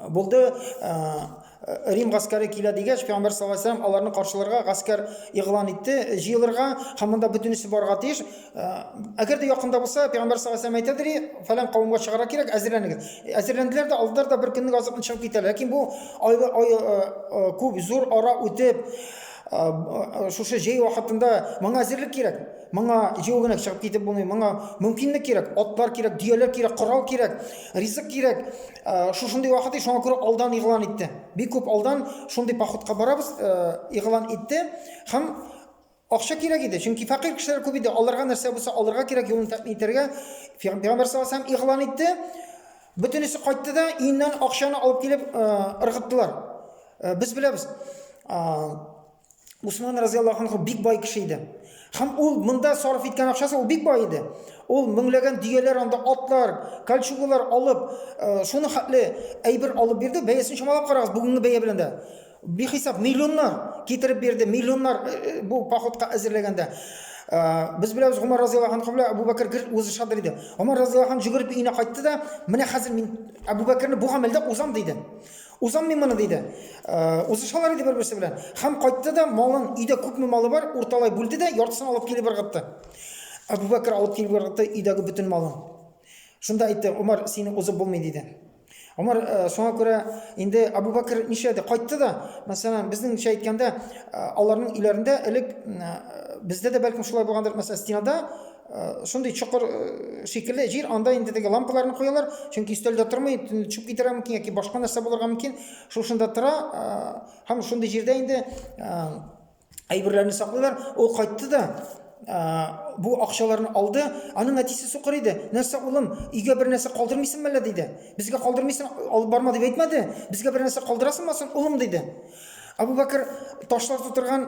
булды э, Рим гаскәре килә дигәч, Пәйгамбәр саллаллаһу алейһи ва сәлләм аларны каршыларга гаскәр игълан итте, җыелырга һәм монда бөтенесе барга тиеш. Әгәр дә якында булса, Пәйгамбәр саллаллаһу алейһи ва сәлләм әйтәдер, фәлән кавымга чыгарга кирәк, әзерләнегез. Әзерләнделәр дә, алдылар да бер көнлек азыкны чыгып китәләр. Ләкин бу айлы, ай, күп зур ара үтеп, шушы җәй вакытында моңа әзерлек кирәк. Моңа җәю генә чыгып китеп булмый. Моңа мөмкинлек кирәк, атлар кирәк, дөяләр кирәк, корал кирәк, ризык кирәк. Э, шушындый вакыт и шуңа күрә алдан игълан итте бик күп алдан шундый походка барабыз э, игълан итте һәм акча кирәк иде чөнки фәкыйрь кешеләр күп иде аларга нәрсә булса алырга кирәк юлын тәэмин итәргә пәйгамбәр саллаллаху алейһи игълан итте бөтенесе кайтты да өеннән акчаны алып килеп э, ыргыттылар без беләбез Усман разыяллаху анху бик бай кеше иде. Һәм ул монда сарыф иткән акчасы ул бик бай иде. Ул меңләгән дөяләр анда атлар, кольчугалар алып, э, шуны хәтле әйбер алып бирде. Бәясен чамалап карагыз бүгенге бәя белән дә. Бихисап миллионнар китереп бирде, миллионнар э, э, бу походка әзерләгәндә. Без беләбез Гомар разыяллаху анху белән Абу Бәкер гел үзе шадыр иде. Гомар разыяллаху анху жүгереп өенә кайтты да, "Менә хәзер мин Абу Бәкерне бу гамәлдә узам" диде. Узам мин моны, диде. Узышалар иде бер-берсе белән. Һәм кайтты да малын, өйдә күпме малы бар, урталай бүлде дә, яртысын алып килеп ыргытты. Әбүбәкер алып килеп ыргытты өйдәге бөтен малын. Шунда әйтте, Умар, сине узып булмый, диде. Умар соңа күрә инде Әбүбәкер нишләде? Кайтты да, мәсәлән, безнеңчә әйткәндә, аларның өйләрендә элек бездә дә бәлкем шулай булгандыр, мәсәлән, стенада Шундый чокыр шикелле җир, анда инде теге лампаларны куялар, чөнки өстәлдә тормый, төшеп китәргә мөмкин яки башка нәрсә булырга мөмкин. Шушында тора һәм шундый җирдә инде әйберләрне саклыйлар. Ул кайтты да бу акчаларны алды. Аның әтисе сукыр иде. Нәрсә улым, өйгә бер нәрсә калдырмыйсың мәллә диде. Безгә калдырмыйсың, алып барма дип әйтмәде. Безгә бер нәрсә калдырасыңмы соң, улым диде. Абу Бәкер ташлар тутырган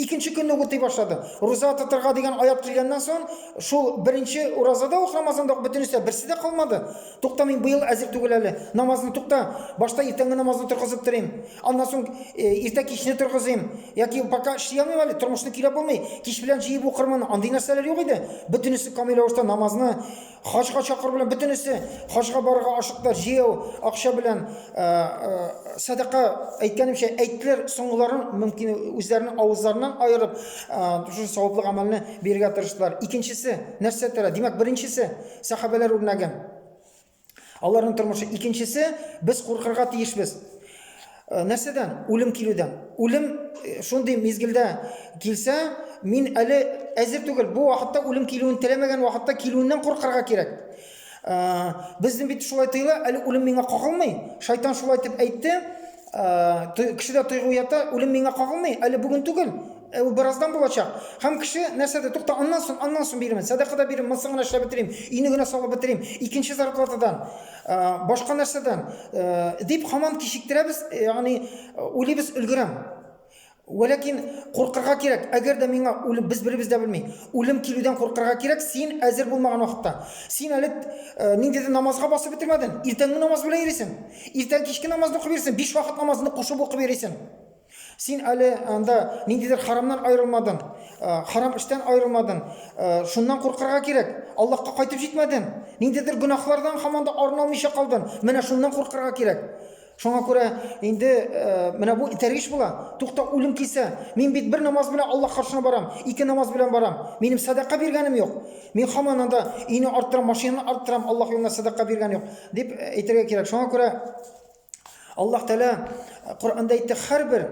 Икенче көнне үк утый башлады. Руза тотырга дигән аят килгәннән соң, шул беренче уразада ук Рамазанда ук бөтенесе берсе дә калмады. Тукта мин быел әзер түгел әле. Намазны тукта. Башта иртәнге намазны торгызып торыйм. Аннан соң э, иртә кичне торгызыйм. Яки пока эшли алмыйм әле, тормышны көйләп булмый. Кич белән җыеп укырмын. Андый нәрсәләр юк иде. Бөтенесе камил рәвештә намазны Хаҗга чакыр белән бөтенесе хаҗга барырга ашыктылар. Җыяу акча белән э, э, садака әйткәнемчә әйттеләр, соңгыларын мөмкин үзләренең авызларыннан аерып, э, шушы саваплы гамәлне бирергә тырыштылар. Икенчесе нәрсә тора? Димәк, беренчесе сахабәләр үрнәге. Аларның тормышы. Икенчесе без куркырга тиешбез. Нәрсәдән? Үлем килүдән. Үлем шундый мизгелдә килсә, мин әле әзер түгел. Бу вакытта үлем килүен теләмәгән вакытта килүеннән куркырга кирәк. Безнең бит шулай тоела, әле үлем миңа кагылмый. Шайтан шулай дип әйтте. Кешедә тойгу ята, үлем миңа кагылмый, әле бүген түгел. Ә ул бераздан булачак. Һәм кеше нәрсәдә тукта, аннан соң, аннан соң бирмен, сәдакада бирим, монсын гына эшләп бетерим, өйне генә салып бетерим, икенче зарплатадан. Ә, башка нәрсәдән? Ә, дип хаман кичектерәбез, ягъни уйлыйбыз өлгерәм. Вәләкин куркырга кирәк, әгәр дә миңа үлем без беребез дә белми. Үлем килүдән куркырга кирәк, син әзер булмаган вакытта. Син әле э, ниндидер намазга басып бетермәдең. Иртәнге намаз белән йөрисең. Иртән кичке намазны укып йөрисең, биш вакыт намазны кушып укып йөрисең. Син әле анда ниндидер харамнан аерылмадың, харам эштән аерылмадың. Шуннан куркырга кирәк. Аллаһка кайтып җитмәдең. Ниндидер гөнаһлардан һаман да арыналмыйча калдың. Менә шуннан куркырга кирәк. Шуңа күрә инде менә бу итәргеч була. Тукта, үлем килсә, мин бит бер намаз белән Аллаһ каршына барам, ике намаз белән барам. Минем садака биргәнем юк. Мин һаман анда өйне арттырам, машинаны арттырам, Аллаһ юлына садака биргән юк, дип әйтергә кирәк. Шуңа күрә Аллаһ Тәала э, Коръәндә әйтте, һәрбер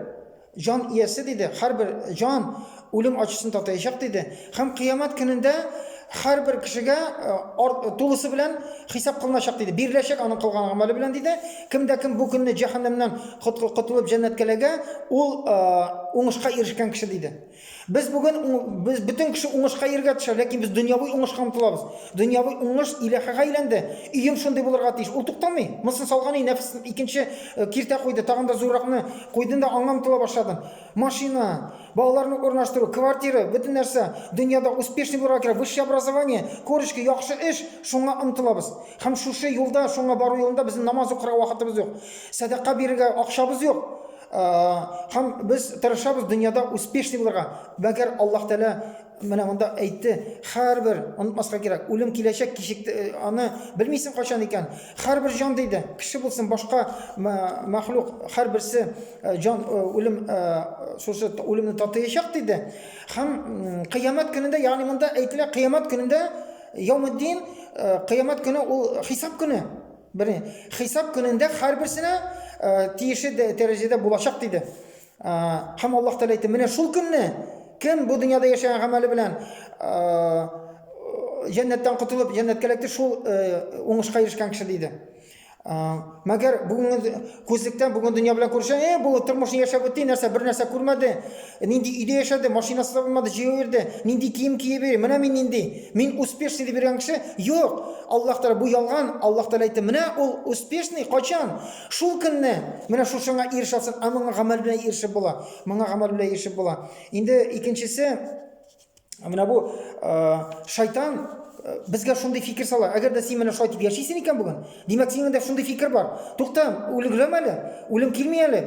җан иясе диде, һәрбер җан үлем ачысын татаячак диде. Һәм кыямәт көнендә һәрбер кешегә э, тулысы белән хисап кылыначак диде. Биреләчәк аның кылган гамәле белән диде. Кемдә кем бу көнне җәһәннәмнән котылып җәннәткәләгә, ул э, уңышка ирешкән кеше диде. Без бүген без бөтен кеше уңышка иргә төшә, ләкин без дөньяви уңышка омтылабыз. Дөньяви уңыш иләхәгә әйләнде. Өем шундый булырга тиеш. Ул туктамый. Мосын салган и нәфс икенче э, киртә куйды, тагын да зурракны куйдын да аңа омтыла башладың. Машина, балаларны урнаштыру, квартира, бөтен нәрсә. Дөньяда успешный булырга кирәк. Высшее образование, корочки, яхшы эш, шуңа омтылабыз. Һәм шушы юлда, шуңа бару юлында безнең намаз укырга вакытыбыз юк. Сәдака бирергә акчабыз юк. Һәм без тырышабыз дөньяда успешный булырга. Мәгәр Аллаһ Тәгалә менә монда әйтте, һәрбер онытмаска кирәк, үлем киләчәк, кичек э, аны белмисең кайчан икән. Һәрбер җан диде, кеше булсын, башка мәхлук, һәрберсе э, җан э, үлем шушы үлемне татыячак диде. Һәм кыямәт көнендә, ягъни монда әйтелә, кыямәт көнендә Яумеддин, кыямәт көне ул хисап көне. Бере, хисап көнендә һәрберсенә э, тиешле дәрәҗәдә булачак диде. Э, һәм Аллаһ Тәгалә әйтте, менә шул көнне кем бу дөньяда яшәгән гамәле белән э, җәннәттән котылып, җәннәткә эләкте, шул уңышка ирешкән кеше диде. Мәгәр бүгенге Күзлектән бүген дөнья белән күрешә, э, бу тормышны яшәп үтте, нәрсә бер нәрсә күрмәде, нинди өйдә яшәде, машинасы да булмады, җәяү йөрде, нинди кием киеп йөри, менә мин нинди, мин успешный дип йөргән кеше, юк, Аллаһ Тәгалә бу ялган, Аллаһ Тәгалә әйтте, менә ул успешный, качан? Шул көнне, менә шушыңа ирешә алсаң, ә моңа гамәл белән ирешеп була, моңа гамәл белән ирешеп була. Инде икенчесе, менә бу шайтан безгә шундый фикер сала әгәр дә син менә шулай итеп яшисең икән бүген димәк сиңдә шундый фикер бар тукта үлгрәм әле үлем килми әле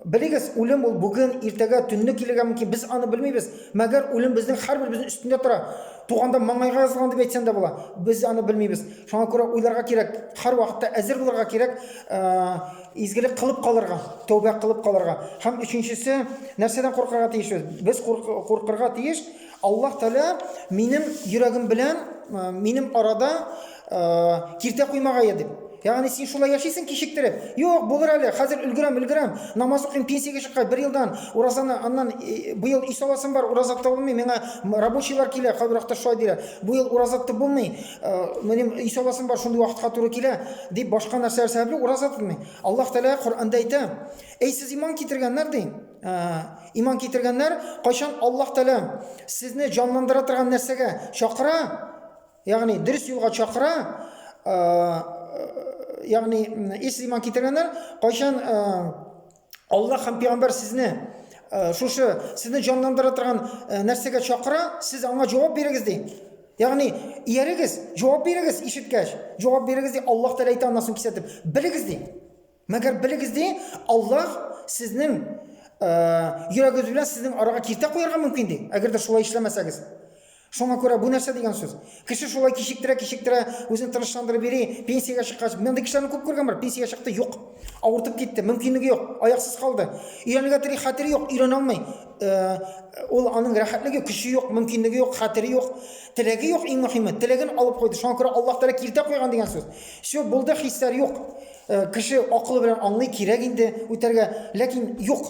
Белегез, үлем ул бүген, иртәгә, төнне килергә мөмкин. Без аны белмибез. Мәгәр үлем безнең һәрберебезнең өстендә тора. Туганда маңгайга язылган дип әйтсәң дә була. Без аны белмибез. Шуңа күрә уйларга кирәк, һәрвакытта әзер булырга кирәк. Э, Изгелек кылып калырга, тәүбә кылып калырга. Һәм өченчесе, нәрсәдән куркырга тиешбез? Без куркырга тиеш, Аллаһ Тәгалә минем йөрәгем белән, минем арада киртә куймагае дип. Ягъни син шулай яшисең кичектереп. Юк, булыр әле, хәзер өлгерәм, өлгерәм. Намаз укыйм, пенсиягә чыккач, бер елдан уразаны, аннан быел ис аласым бар, ураза тотып булмый, миңа рабочийлар килә, кайбер вакытта шулай диләр. Бу ел ураза тотып булмый. минем үй сабасым бар шундый вакытка туры килә дип башка нәрсәләр сәбәпле ураза тотмый аллаһ тәгалә коранда әйтә әй сез иман китергәннәр ди иман китергәннәр кайчан аллаһ тәгалә сезне җанландыра торган нәрсәгә чакыра ягъни дөрес юлга чакыра ягъни ис иман китергәннәр кайчан Алла һәм пәйгамбәр сезне э, шушы сезне җанландыра торган э, нәрсәгә чакыра, сез аңа җавап бирегез ди. Ягъни, иярегез, җавап бирегез ишеткәч, җавап бирегез ди, Аллаһ Тәгалә әйтә аннан соң кисәтеп, белегез ди. Мәгәр белегез ди, Аллаһ сезнең э, йөрәгегез белән сезнең арага киртә куярга мөмкин ди, әгәр дә шулай эшләмәсәгез. Шуңа күрә бу нәрсә дигән сүз? Кеше шулай кичектерә, кичектерә, үзен тынычландырып йөри, пенсиягә чыккач, мондый кешеләрне күп күргән бар, пенсиягә чыкты, юк. Авыртып китте, мөмкинлеге юк, аяксыз калды. Өйрәнергә тели, хәтере юк, өйрәнә алмый. Э, ул аның рәхәтлеге, көче юк, мөмкинлеге юк, хәтере юк, теләге юк, иң мөһиме, теләген алып куйды. Шуңа күрә Аллаһ Тәгалә киртә куйган дигән сүз. Все, булды, хисләр юк. Э, кеше акылы белән аңлый, кирәк инде үтәргә, ләкин юк.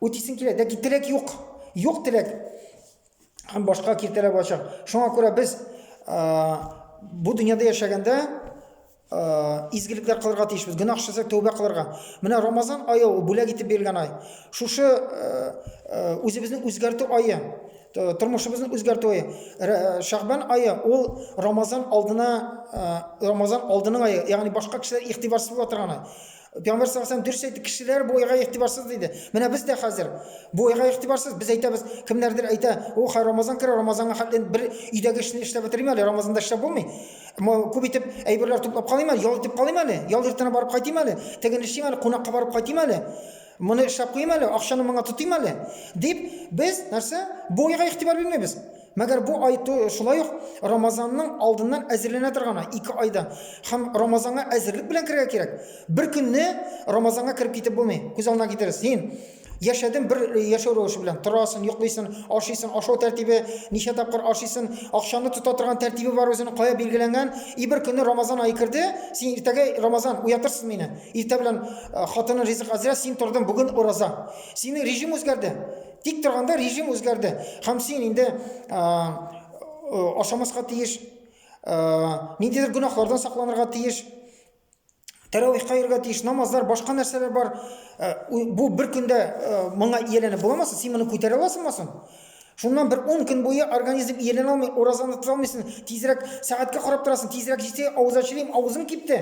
Үтисең килә, ләкин теләк юк. Юк теләк. Һәм башка киртәләр булачак. Шуңа күрә без бу дөньяда яшәгәндә изгелекләр кылырга тиешбез. Гөнаһ эшләсәк, тәүбә кылырга. Менә Рамазан айы ул бүләк итеп бирелгән ай. Шушы үзебезне үзгәртү айы, тормышыбызны үзгәртү айы. Шәгъбан айы ул Рамазан алдына Рамазан алдының айы, ягъни башка кешеләр игътибарсыз була торган ай. Пәйгамбәр саллаллаху алейһи дөрес әйтте, кешеләр бу уйга игътибарсыз диде. Менә без дә хәзер бу уйга игътибарсыз. Без әйтәбез, кемнәрдер әйтә, "О, хәй Рамазан керә, Рамазанга хәтле бер өйдәге эшне эшләп бетерим әле, Рамазанда эшләп булмый. Күп итеп әйберләр туплап калыйм әле, ял итеп калыйм әле, ял иртән барып кайтыйм әле, теген эшлим әле, кунакка барып кайтыйм әле. Моны эшләп куйым әле, акчаны моңа тотыйм әле", дип без нәрсә? Бу уйга игътибар бирмибез. Мәгәр бу ай шулай ук Рамазанның алдыннан әзерләнә торган ай, ике айда. Һәм Рамазанга әзерлек белән керергә кирәк. Бер көнне Рамазанга кереп китеп булмый. Күз алдына китерегез. Син яшәдең бер яшәү рәвеше белән. Торасың, йоклыйсың, ашыйсың, ашау тәртибе, ничә тапкыр ашыйсың, акчаны тота торган тәртибе бар үзенең, кая билгеләнгән. И бер көнне Рамазан ае керде, син иртәгә Рамазан уятырсың мине. Иртә белән хатының ризык әзрә, син тордың, бүген ураза. Синең режим үзгәрде. Тик торганда режим үзгәрде. Һәм син инде ашамаска тиеш, ниндидер гөнаһлардан сакланырга тиеш, тәравих кайырга тиеш, намазлар, башка нәрсәләр бар. Бу бер көндә моңа ияләнеп буламасың, син моны күтәрә аласыңмы соң? Шуннан бер 10 көн буе организм ияләнә алмый, уразаны тота алмыйсың, тизрәк сәгатькә карап торасың, тизрәк җитсә, авыз ачылыйм, авызым кипте,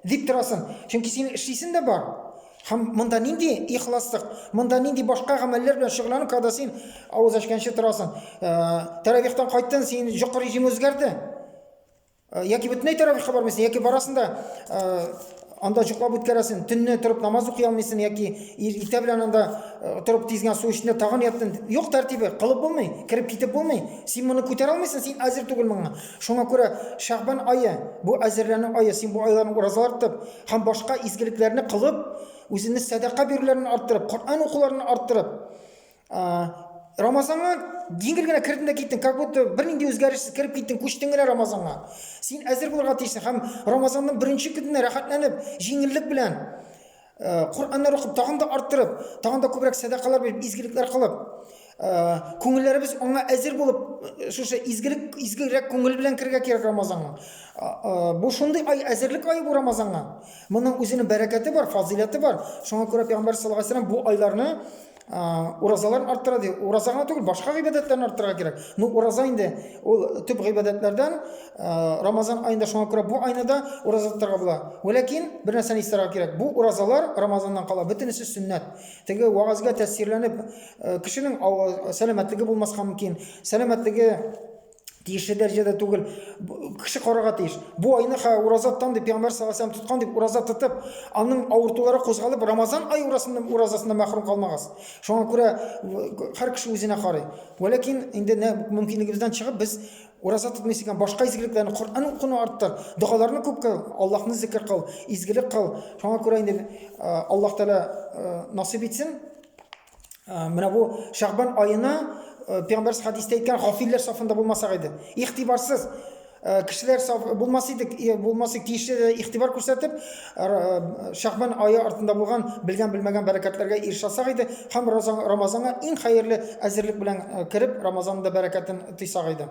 дип торасың. Чөнки син эшлисең дә бар. Һәм монда нинди ихласлык, монда нинди башка гамәлләр белән шөгыльләнү, когда син авыз ачканчы торасың. Тәравихтан кайттың, син җокы режимы үзгәрде. Яки бөтенләй тәравихка бармыйсың, яки барасың да анда җоклап үткәрәсен, төнне торып намаз укый алмыйсың яки иртә белән анда э, торып тиз генә су эчтең, тагын яттың. Юк тәртибе, кылып булмый, кереп китеп булмый. Син моны күтәрә алмыйсың, син әзер түгел моңа. Шуңа күрә Шәгъбан ае, бу әзерләнү ае, син бу айларны уразалар тотып һәм башка изгелекләрне кылып, үзеңне сәдака бирүләрен арттырып, Коръән укуларын арттырып, Рамазанга җиңел генә кердең дә киттең, как будто бернинди үзгәрешсез кереп киттең, күчтең генә Рамазанга. Син әзер булырга тиешсең һәм Рамазанның беренче көненә рәхәтләнеп, җиңеллек белән Э, Коръәннәр укып, тагын да арттырып, тагын да күбрәк сәдакалар биреп, изгелекләр кылып, э, күңелләребез аңа әзер булып, э, шушы изгелек, изгерәк күңел белән кергә кирәк Рамазанга. Бу шундый ай, әзерлек ае бу Рамазанга. Моның үзенең бәрәкәте бар, фазыйләте бар. Шуңа күрә Пәйгамбәр саллаллаһу алейһи бу айларны уразалар арттыра ди ураза гына түгел башка гыйбадәтләрне арттырырга кирәк ну ураза инде ул төп гыйбадәтләрдән рамазан аенда шуңа күрә бу айны да ураза тотарга була ләкин бер нәрсәне истәргә кирәк бу уразалар рамазаннан кала бөтенесе сөннәт теге вәгазьгә тәэсирләнеп кешенең сәламәтлеге булмаска мөмкин сәламәтлеге тиешле дәрәҗәдә түгел кеше карарга тиеш бу айны ураза тотам дип пәйгамбәр саллаллаху алейһи тоткан дип ураза тотып аның авыртулары кузгалып рамазан ай уразасыннан мәхрүм калмагыз шуңа күрә һәр кеше үзенә карый вәләкин инде мөмкинлегебездән чыгып без ураза тотмыйсы икән башка изгелекләрне коръән укуны арттыр догаларны күп кыл аллаһны зикер кыл изгелек кыл шуңа күрә инде аллаһ тәала насыйп итсен Менә бу Шәгъбан аена пәйгамбәрс хадистә әйткән гафилләр сафында булмасак иде. Игътибарсыз кешеләр саф булмас идек, булмас идек тиешле игътибар күрсәтеп, Шәгъбан ае артында булган белгән белмәгән бәрәкәтләргә ирешәсәк иде һәм Рамазанга иң хәерле әзерлек белән кереп, Рамазанның да бәрәкәтен тыйсак иде.